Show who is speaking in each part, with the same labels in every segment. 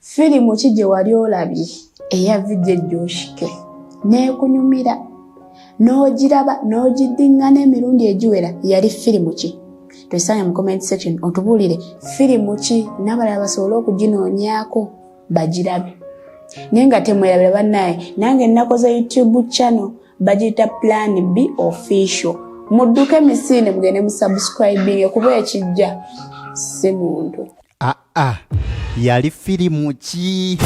Speaker 1: Firimu ki gye wali olabye eya vidye gyoshike n'ekunyumira n'ogiraba n'ogiddingana emirundi egiwera yali firimu ki tusaanye mu comment section otubuulire firimu ki n'abalala basobole okuginoonyaako bagirabe naye nga temwerabira bannaye nange nnakoze youtube channel bagiyita plan b official mudduke misiine mugende musubscribinge kuba ekijja si muntu Ah, ah.
Speaker 2: yali firimu ki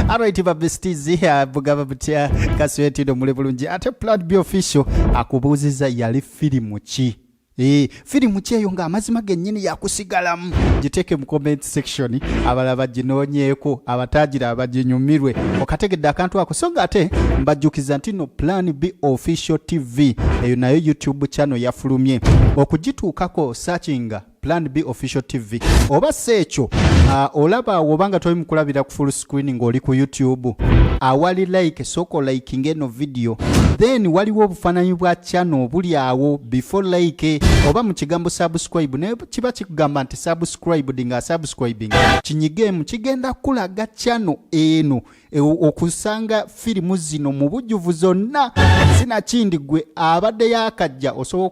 Speaker 2: alright babestizi eh, bugaba butya kaswetino muli bulungi ate plan b official akubuuziza yali firimu ki Eh, firimu kyeyo nga amazima gennyini yakusigalamu giteeke mu comment section abala baginoonyeeko abatagira abaginyumirwe okategedde akantu ako so nga ate mbajjukiza nti no plan b official tv eyo nayo youtube channel yafulumye okugituukako sakinga plan b official tv oba si ekyo uh, olaba awo obanga toli mukulabira ku full screen ng'oli ku youtube awali like soko liking eno video then waliwo obufaananyi bwa channel buli awo before like oba mu kigambo subscribe naye kiba kikugamba nti subscribed nga subscribing kinyigemu kigenda kulaga channel eno e, okusanga firimu zino mu bujjuvu zonna sinakindi gwe abadde yakajja osobola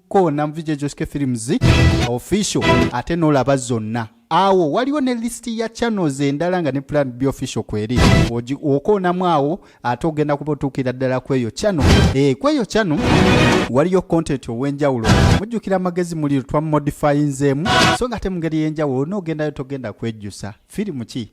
Speaker 2: ko namvi gye joske films official ate n'olaba zonna awo waliwo ne lisiti ya channels endala nga ne plan b official kweri okoonamu awo ate ogenda kuba otuukira ddala kweyo channel e, kweyo channel waliyo content ow'enjawulo mujjukira amagezi muli twa modifyinzeemu so nga ate mu ngeri y'enjawulo n'ogendayo togenda kwejjusa firimu ki